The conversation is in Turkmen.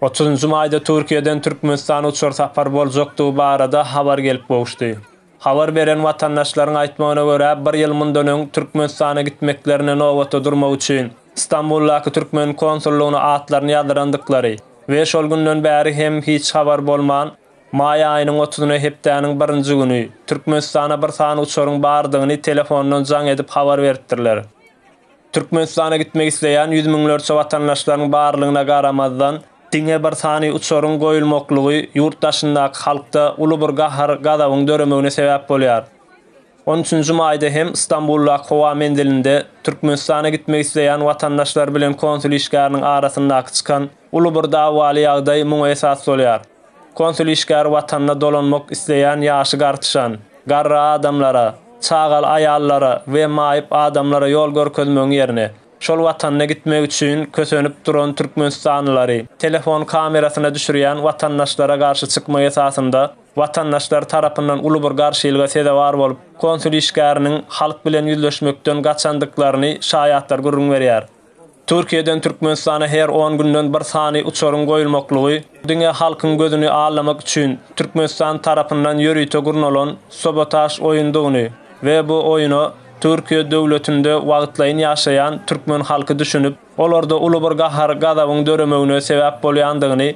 Otuzynjy maýda Türkiýeden Türkmenistana uçar sapar boljakdygy barada habar gelip gowuşdy. Habar beren watandaşlaryň aýtmagyna görä, bir ýyl mundan öň Türkmenistana gitmeklerine nobata durmak üçin Stambuldaky türkmen konsullygyna atlaryny ýazdyrandyklary we şol günden bäri hem hiç habar bolman, maý aýynyň otuzyna hepdäniň birinji güni Türkmenistana bir sany uçaryň bardygyny telefondan jaň edip habar beripdirler. Türkmenistana gitmek isleýän ýüz müňlerçe watandaşlaryň barlygyna garamazdan, diňe bir sany uçaryň goýulmaklygy ýurt daşyndaky halkda uly bir gahar-gazabyň döremegine sebäp bolýar. On üçünji maýda hem Stambuldaky howa menzilinde Türkmenistana gitmek isleýän watandaşlar bilen konsul işgäriniň arasyndaky çykan uly bir dawaly ýagdaý muňa esas bolýar. Konsul işgäri watanyna dolanmak isleýän ýaşy gartyşan, garry adamlara, çagaly aýallara we maýyp adamlara ýol görkezmegiň ýerine, şol watanyna gitmek üçin kösenip duran türkmenistanlylary telefon kamerasyna düşürýän watandaşlara garşy çykma esasynda watandaşlar tarapyndan uly bir garşylyga sezewar bolup, konsul işgäriniň halk bilen ýüzleşmekden gaçandyklaryny şaýatlar gürrüň berýär. Türkiýeden Türkmenistana her on günden bir sany uçaryň goýulmaklygy diňe halkyň gözüni allamak üçin Türkmenistan tarapyndan ýörite gurnalan sabotaž oýundygyny we bu oýuna Türkiýe döwletinde wagtlaýyn ýaşaýan türkmen halky düşünip, olarda uly bir gahar-gazabyň döremegine sebäp bolýandygyny